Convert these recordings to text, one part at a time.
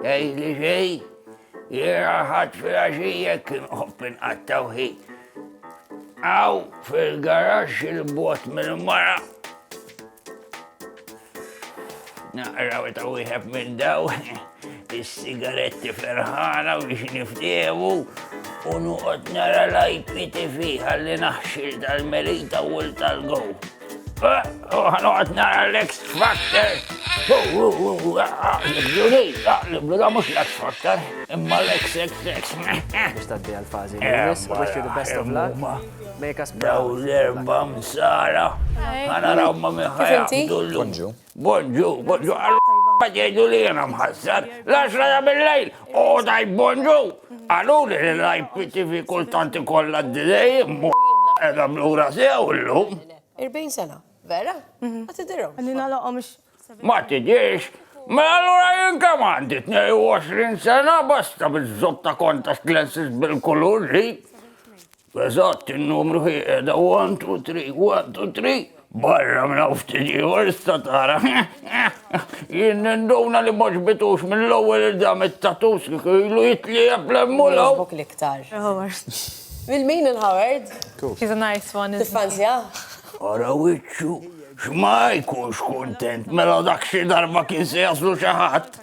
Ej li ġej, jera ħadd fil-għaxija kien oppin għattawħi. Aw fil-garax il-bot mill-mara. Naqraw ta' wieħed minn daw. is-sigaretti ferħana biex niftiemu u nuqot nara l-IPTV għalli naħxil tal-merita u l-tal-gow. Għanqot nara l-ex factor. Juni, għaqliblu da mux l-ex factor, imma l-ex ex ex. Mux taddi għal-fazi, wish you the best of luck. Make us proud. Daw l-erba msara. Għana raw ma miħajja. Bonġu, bonġu, għal ma jgħidu li jena mħassar, l-għaxra ta' bil-lejl, u daj bonġu, għalu li l-IPTV kultanti kolla d-dizej, mu edha blura sew l-lum. 40 sena, vera? Mhm. Ma tidirhom. Għanni nalaqom Ma tidirx, Ma mela allura jien kemm għandi 22 sena basta biż-żob ta' kontax lenses bil-kulur ġi. Eżatt, in-numru hi qiegħda one two three, one two three, barra minn hawn ftit ieħor issa tara. Jien ninduna li ma ġbitux mill-ewwel il-dam it-tatus kieku ilu jitliegħeb l-emmulaw. Jogħġbok l-iktar? Il-Howard. Lil min il-Howard? He's a nice one. Tiffanzjah? Ara wiċċu, x'ma jkunx kuntent mela dak xi darba kien se jaslu xi ħadd.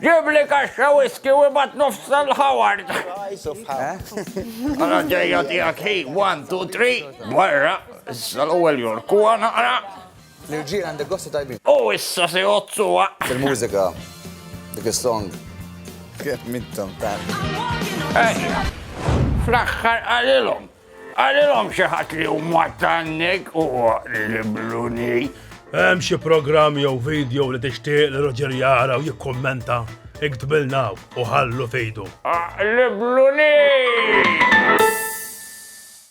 Ġibli kaxxa whiskey u ibgħat nofs tal-Howard. Mela ġejja tiegħek hi, one, two, three, barra, issa l-ewwel jorkuha naqra. L-irġiel għandek gostu tajbin. U issa se jgħodsuha. Il-mużika, dik is-song. Kemm intom ta'. Ejja. Fl-aħħar qalilhom. Qalilhom xi ħadd li hu mwattanneg u libluni. Hemm xi programm jew video li tixtieq li Roger jara u jikkummenta, iktbilna u ħallu fejdu. Aqlibluni!